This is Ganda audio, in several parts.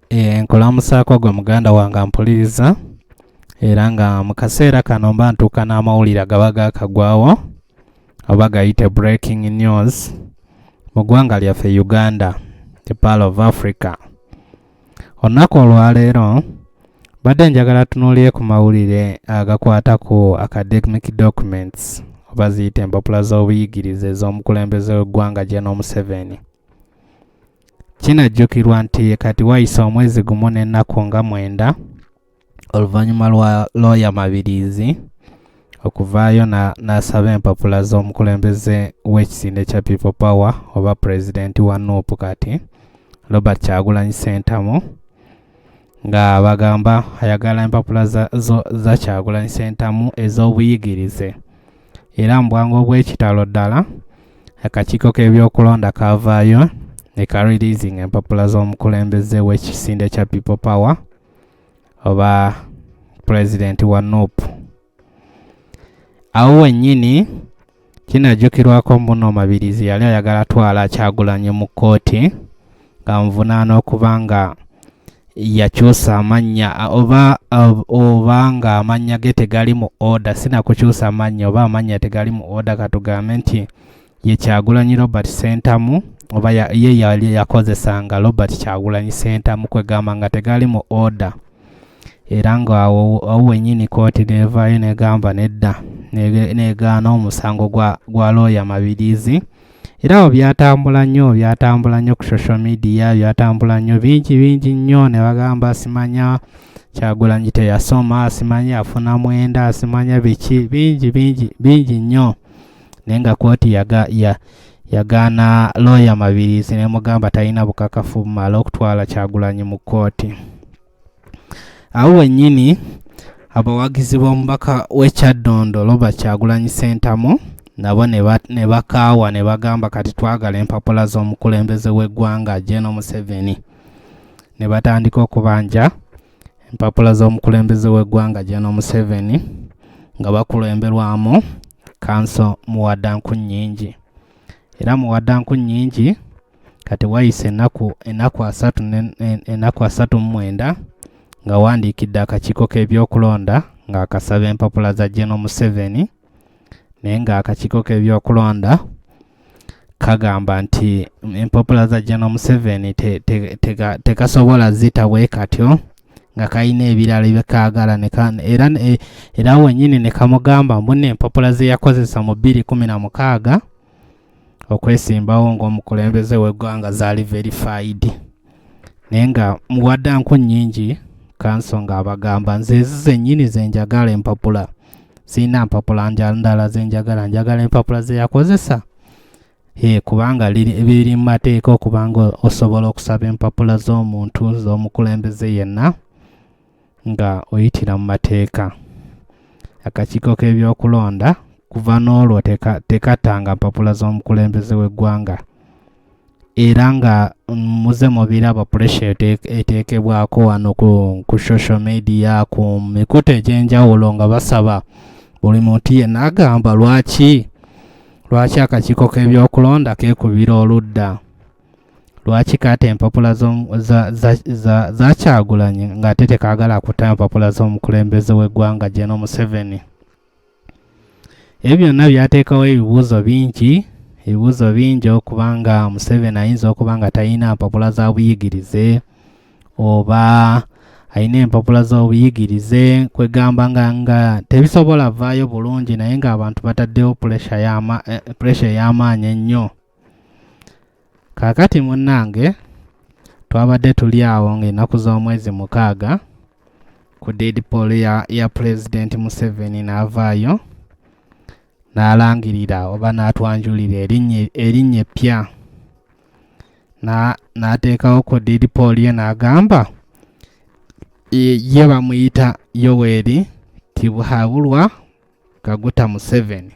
Eh, nkulamusaako gwe muganda wange ampuliriza era nga mu kaseera kano mba ntuuka n'amawulire agaba gaakagwawo oba gayite breaking news mu ggwanga lyaffe uganda the pal of africa olunaku olwaleero mbadde njagala tunuulire ku mawulire agakwata ku academic documents oba ziyita empapula z'obuyigirize ez'omukulembeze w'eggwanga gye n'omuseveni Kinajjukirwa nti kati wayise omwezi gumu n'ennaku nga mwenda oluvannyuma lwa looya Mabiriizi okuvaayo n'asaba empapula z'omukulembeze w'ekisinde kya People Power oba pulezidenti wa nup kati Robert Kyagulanyi Ssentamu nga bagamba ayagala empapula za, za, za kyagulanyi sentamu ez'obuyigirize era mu bwangu obw'ekitalo ddala akakiiko k'ebyokulonda kavaayo ne ka releasing empapula z'omukulembeze w'ekisinde kya people power oba pulezidenti wa nup awo wennyini Kinajjukirwako mbuno Mabirizi yali ayagala twala Kyagulanyi mu kkooti ng'amuvunaana okuba nga yakyusa amannya oba oba ng'amannya ge tegali mu oda sinakukyusa amannya oba amannya tegali mu oda katugambe nti ye Kyagulanyi Robert Ssentamu oba ye yali yakozesanga Robert Kyagulanyi Ssentamu kwegamba nga tegali mu oda. era ng'awo awo wennyini kkooti n'evaayo n'egamba nedda n'egaana omusango gwa gwa looya mabiriizi era awo byatambula nnyo byatambula nnyo ku social media byatambula nnyo bingi bingi nnyo ne bagamba simanya kyagulanyi teyasoma simanya afuna mwenda simanya biki bingi bingi bingi nnyo naye nga kooti yaga, ya, yagaana looya mabirizi nemugamba talina bukakafu bumala okutwala kyagulanyi mu kooti awo wennyini abawagizi b'omubaka w'ekyaddondo robert kyagulanyi sentamu nabo ne bakaawa ne bagamba kati twagala empapula z'omukulembeze w'eggwanga geno museveni ne batandika okubanja empapula z'omukulembeze w'eggwanga Jeno Museveni nga bakulemberwamu kanso muwadanku nnyingi era muwadanku nnyingi kati wayise enaku enaku asatu enaku asatu mu mwenda nga wandiikidde akakiiko k'ebyokulonda ng'akasaba empapula za Jeno Museveni naye ng'akakiiko k'ebyokulonda kagamba nti empapula za jano museveni tekasobola te, te, te zita bwe katyo nga kalina ebirala ebyekaagala era, e, era wenyini ne kamugamba mbuna empapula ze yakozesa mu bbiri kumi na mukaaga okwesimbawo ng'omukulembeze w'eggwanga zaali verified naye nga muwadde nku nnyingi kanso ng'abagamba nze ezi zennyini ze njagala empapula sirina mpapula ndala ze njagala njagala empapula ze yakozesa e kubanga biri mu mateeka okubanga osobola okusaba empapula z'omuntu z'omukulembeze yenna nga oyitira mu mateeka akakiiko k'ebyokulonda kuva n'olwo tekattanga mpapula z'omukulembeze w'eggwanga era nga muze mubiraba puresha eteekebwako wano ku social media ku mikutu egy'enjawulo nga basaba buli muntu yenna agamba lwaki lwaki akakiiko k'ebyokulonda keekubira oludda lwaki kaata empapula zakyagulanyi ng'ate tekaagala akuta empapula z'omukulembeze w'eggwanga geno museveni ebyo byonna byateekawo ebibuuzo bingi ebibuuzo bingi okuba nga museveni ayinza okuba nga talina mpapula za buyigirize oba alina empapula z'obuyigirize kwegamba nga nga tebisobola vaayo bulungi naye ng'abantu bataddewo puresha eh, ey'amaanyi ennyo kaakati munnange twabadde tuli awo ng'ennaku z'omwezi mukaaga ku deedpool ya, ya pulezidenti museveni n'avaayo n'alangirira oba n'atwanjulira erinnya eppya n'ateekawo ku deedpool ye n'agamba ye bamuyita yoweri tibuhabulwa kaguta museveni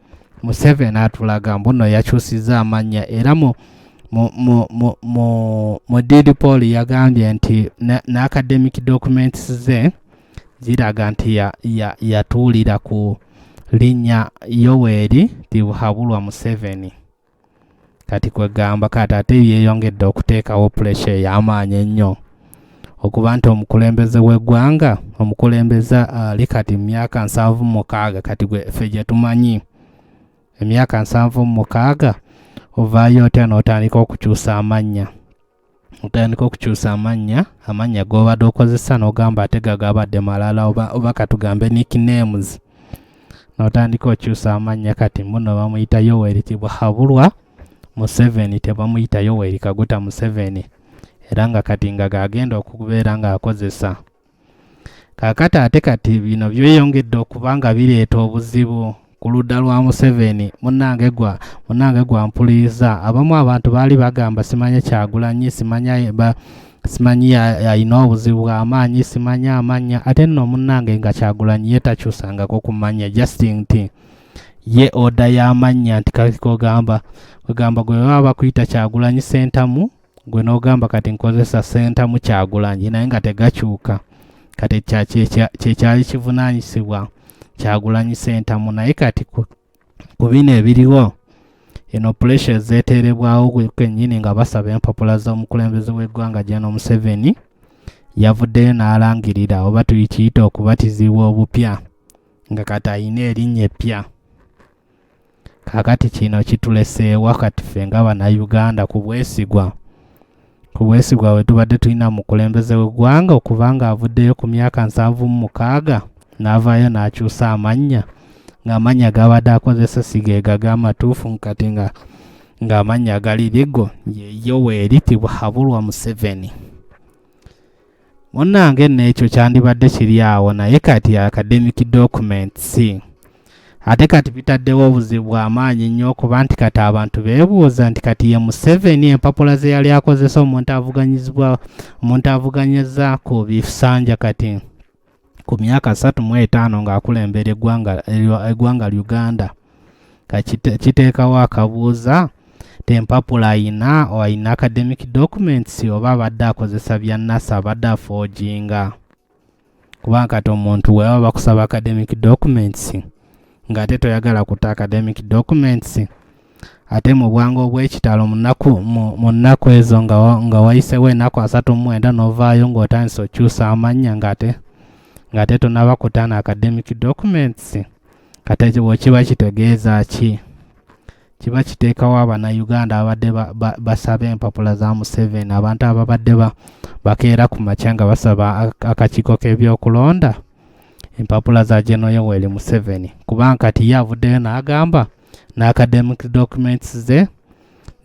museveni atulaga mbuno yakyusiza amannya era mu mu did paul yagambye nti n'academic documents ze ziraga nti yatuulira ku linnya yoweri tibuhabulwa museveni kati kwegamba kati ate byeyongedde okuteekawo pulesha ey'amaanyi ennyo okuba nti omukulembeze w'eggwanga omukulembeze ali kati mu myaka nsanvu mukaaga kati gwefe gye tumanyi emyaka nsanvu mukaaga ovaayo otya n'otandika okukyusa amannya otandika okukyusa amannya amannya gobadde okozesa nogamba ate gagabadde malala oba, oba katugambe nicknames notandika okyusa amannya kati muno bamuyita yoweri kibuhabulwa museveni tebamuyita yoweri kaguta museveni era nga kati nga gagenda okubeera ngaakozesa kakati ate kati bino byeyongedde okuba nga bireeta obuzibu ku ludda lwa museveni munange gwa munange gwa mpuliza abamu abantu baali bagamba simanya kyagulanyi simanya ba simanyi alina obuzibu bwamaanyi simanyi amanya ate nno munnange nga kyagulanyi ye takyusangako ku manya justin nti ye oda y'amannya nti kakikogamba ogamba gwe baba bakuyita kyagulanyi sentamu gwe n'ogamba kati nkozesa sentamu kyagulanyi naye nga tegakyuka kati kyekyali kivunanyisibwa kyagulanyi sentamu naye kati ku bino ebiriwo eno puresha ezeeteerebwawo kwennyini nga basaba empapula z'omukulembeze w'eggwanga jeno museveni yavuddeyo n'alangirira oba tuyikiyita okubatizibwa obupya nga kati alina erinnya eppya kakati kino kituleseewa kati ffe nga bannayuganda ku bwesigwa ku bwesigwa bwe tubadde tulina mu kulembeze w'eggwanga okuba ng'avuddeyo ku myaka nsanvu mu mukaaga n'avaayo n'akyusa amannya ng'amannya gabadde akozesa sigeega g'amatuufu kati nga ng'amannya gali ligo yeyo weeriti buhabulwa museveni munnange nno ekyo kyandibadde kiri awo naye kati academic documents ate kati bitaddewo obuzibu bw'amaanyi nnyo okuba nti kati abantu beebuuza nti kati ye museveni empapula ze yali akozesa omuntu avuganyizibwa omuntu avuganyiza ku bisanja kati ku myaka asatu mu etaano ng'akulembera eggwanga uganda kiteekawo akabuuza tempapula ayina ayina academic documents oba abadde akozesa bya nasa abadde afoojinga kubanga kati omuntu weba bakusaba academic documents ng'ate toyagala kuta academic documents ate mu bwangu obw'ekitalo mu nnaku ezo nga wayisewo ennaku asatu mu mwenda n'ovaayo ng'otandise okyusa amannya ng'ate ng'ate tonaba kutaana academic documents kati ekyo bwekiba kitegeeza ki kiba kiteekawo abannayuganda ababadde basaba empapula za museven abantu ababadde bakeera ku makya nga basaba akakiiko k'ebyokulonda empapula za General Yoweri Museveni kuba nkati ye avuddeyo n'agamba na academic documents ze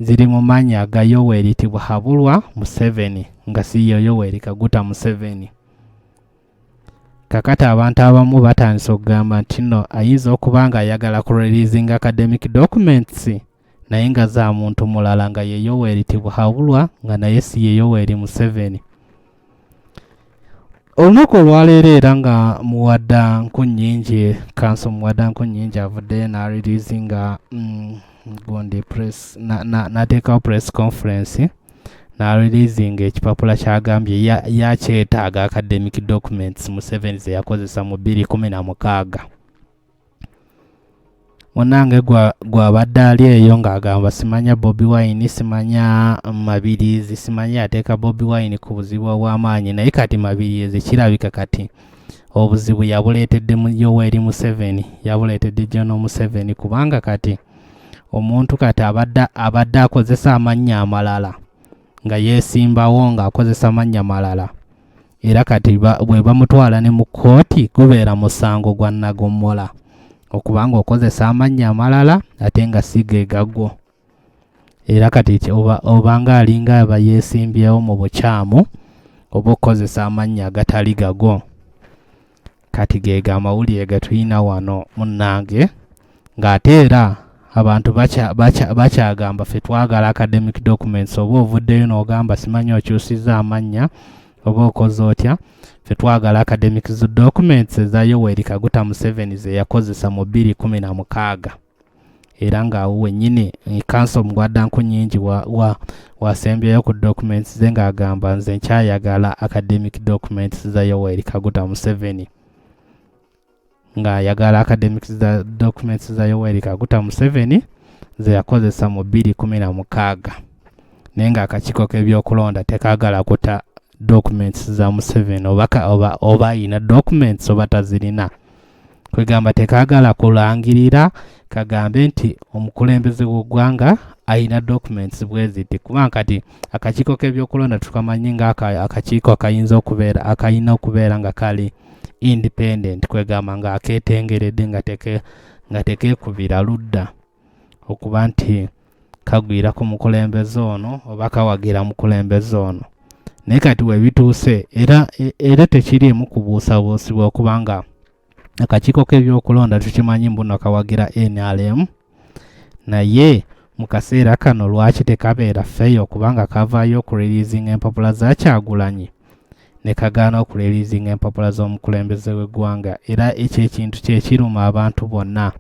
ziri mu mannya ga Yoweri Tibuhaburwa Museveni nga si ye Yoweri Kaguta Museveni. Kakati abantu abamu batandise okugamba nti no ayinza okuba nga ayagala ku releasing academic documents naye nga za muntu mulala nga ye Yoweri Tibuhaburwa nga naye si ye Yoweri Museveni. olunaku olwaleero era nga muwadda nkunyingi kanso muwadda nkunyingi avudde n'aririzi nga mm, gundi press nateekawo press conference n'aririzi nga ekipapula kyagambye yakyetaaga academic documents museveni zeyakozesa mu bbiri kumi na mukaaga munange gwabadde ali eyo ng'agamba simanya bobi wine simanya mabirizi simanya yateeka bobi wine ku buzibu obw'amaanyi naye kati mabirizi kirabika kati obuzibu yabuleetedde mu yoweri museveni yabuleetedde jono museveni kubanga kati omuntu kati abadde abadde akozesa amannya amalala nga yeesimbawo ng'akozesa amannya malala era kati bwe bamutwala ne mu kkooti gubeera musango gwa nagommola okuba ng'okozesa amannya amalala ate nga si ge gagwo era kati obanga alinga aba yeesimbyewo mu bukyamu oba okukozesa amannya agatali gagwo kati geega amawulire getulina wano munnange ng'ate era abantu bakyagamba ffe twagala academic documents oba ovuddeyo n'ogamba simanyi okyusizza amannya oba okoze otya ffe twagala academic documents eza yoweri kaguta museveni ze yakozesa mu 216 era ng'awo wennyini kanso mugwadda nku nyingi wasembyeyo ku documents ze ng'agamba nze nkyayagala academic documents za yoweri kaguta museveni ng'ayagala academic za documents za yoweri kaguta museveni ze yakozesa mu bbiri kumi na mukaaga naye ng'akakiiko k'ebyokulonda tekaagala kuta documents za museveni oba ayina documents oba tazirina kwegamba tekagala kulangirira kagambe nti omukulembeze w'eggwanga alina documents bweziti kubanga kati akakiiko k'ebyokulonda tukamanyi nga akakiiko akayinza okubeera akalina okubeera nga kali independent kwegamba nga aketengeredde nga teke nga tekekubira ludda okuba nti kagwira ku mukulembeze ono oba kawagira mukulembeze ono naye kati webituuse era e, era tekiriimu kubuusabuusibwa okuba nga akakiiko k'ebyokulonda tukimanyi mbuno kawagira nrm naye mu kaseera kano lwaki tekabeera feeyo kubanga kavaayo okureliizinga empapula zakyagulanyi ne kagaana okureliizinga empapula z'omukulembeze w'eggwanga era ekyo ekintu kyekiruma abantu bonna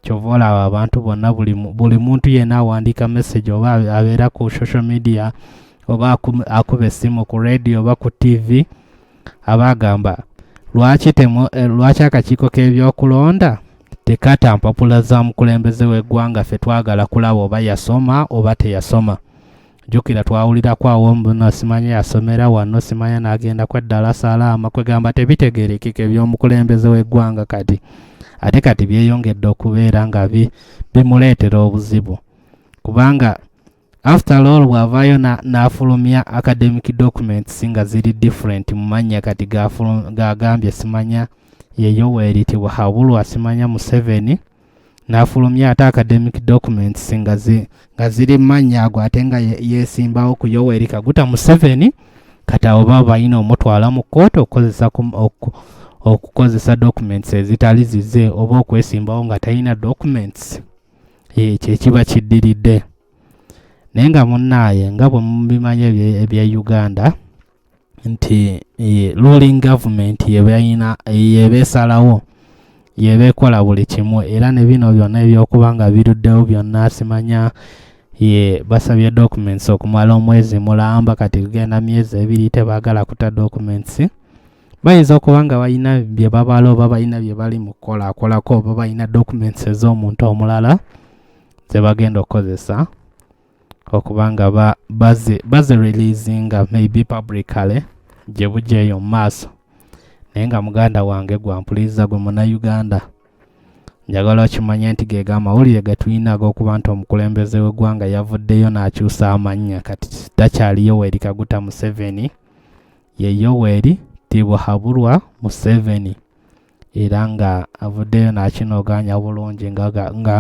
kyova olaba abantu bonna buli muntu yena awandiika message oba abeera ku social media oba akuba essimu ku radio oba ku tv aba agamba lwaki eh, akakiiko k'ebyokulonda tekata mpapula za mukulembeze w'eggwanga ffe twagala kulaba oba yasoma oba teyasoma jukira twawulirako awo mbuno simanya yasomera wano simanya n'agenda kweddala salaama kwegamba tebitegerekeka eby'omukulembeze w'eggwanga kati ate kati byeyongedde okubeera nga bimuleetera obuzibu kubanga after all bw'avaayo n'afulumya academic documents nga ziri different mu mannya kati gagambye simanya yeyoweritibwa habulwa simanya museveni n'afulumya ate academic documents nga ziri mannya ago ate nga yeesimbawo ku yoweri kaguta museveni kati abo baba balina omutwala mu kkooti okukozesa okukozesa documents ezitali zize oba okwesimbawo nga talina documents ekyo ekiba kiddiridde naye nga munnaaye nga bwe mubimanyi ebya uganda nti eh, ruling government yebayina yeba esalawo yeba ekola buli kimu era ne bino byonna ebyokuba nga biruddewo byonna simanya ye basabye documents okumala omwezi mulamba kati kugenda myezi ebiri tebaagala kuta documents bayinza okuba nga balina bye babala oba balina bye bali mu kukolakolako oba balina documents ez'omuntu omulala ze bagenda okukozesa okuba nga bazi releasinga maybe publicale gye bujja eyo mu maaso naye nga muganda wange gwampuliriza gwe munauganda njagala okimanye nti geega amawulire getulina ag'okuba nti omukulembeze w'eggwanga yavuddeyo n'akyusa amannya kati takyali yoweri kaguta museveni ye yoweri tibuhaburwa museveni era nga avuddeyo n'akinogaanya bulungi nga ga- nga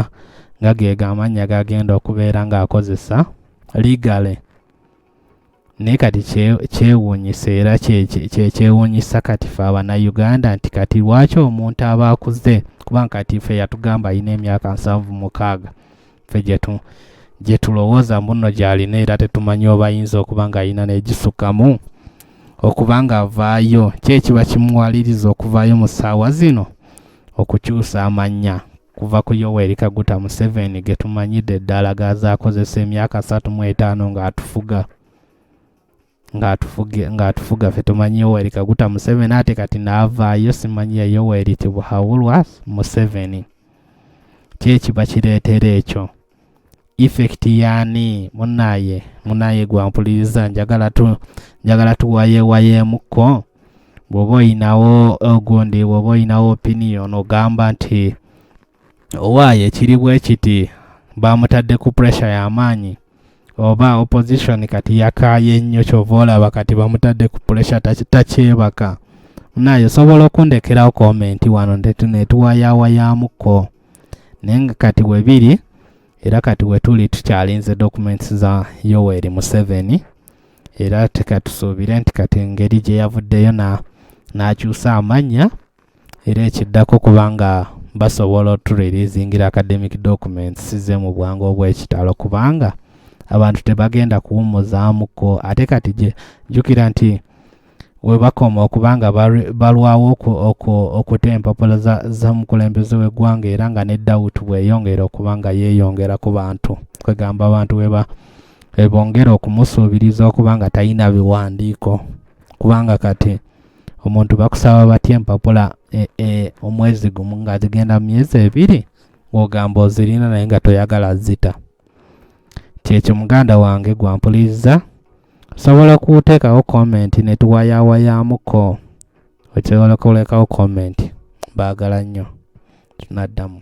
nga ge gamannya gagenda okubeera ng'akozesa legally naye kati kye- kyewuunyisa era kye- kye- kye- kyewuunyisa kati fe abanayuganda nti kati lwaki omuntu aba akuze kubanga kati fe yatugamba alina emyaka nsanvu mukaaga ffe gye tulowooza mbuno gy'alina era tetumanyi oba ayinza okuba ng'alina n'egisukkamu okuba ng'avaayo ki ekiba kimuwaliriza okuvaayo mu ssaawa zino okukyusa amannya kuva ku yoweri kaguta museveni ge tumanyidde eddala gazaakozesa emyaka satu mu etaano ng'atufuga ng'atufuga ffe tumanyi yoweri kaguta museveni ate kati naavaayo simanyi ya yoweri tibuhawulwa museveni kyekiba kireetera ekyo effect yaani munaye munaye gwampuliriza njagala tu njagala tuwayewayeemukko bw'oba oyinawo ogundi bw'oba oyinawo opinion ogamba nti owaaye ekiri bwe kiti baamutadde ku pressure y'amaanyi oba opposition kati yakaaye nnyo kyova olaba kati bamutadde ku pressure takyebaka naye osobola okundekerawo komenti wano netuwayawayamukko naye nga kati webiri era kati wetuli tukyalinze documents za yoweri museveni era tekatusuubire nti kati engeri gye yavuddeyo n'akyusa amannya era ekiddako kubanga basobola otureleasingira academic documents size mu bwangu obwekitalo kubanga abantu tebagenda kuwumuzaamuko ate kati gye jjukira nti webakoma okubanga balwawo okuta empapula z'omukulembeze w'eggwanga era nga ne dawuti bweyongera okuba nga yeeyongera ku bantu kwegamba abantu weba ebongera okumusuubiriza okuba nga talina biwandiiko kubanga kati omuntu bakusaba batya empapula e, e, omwezi gumu nga zigenda mu myezi ebiri ng'ogamba ozirina naye nga toyagala zita kyekyo muganda wange gwampuliriza osobola okuteekawo komenti ne tuwayaawayamuko osobola okulekawo komenti baagala nnyo tunaddamu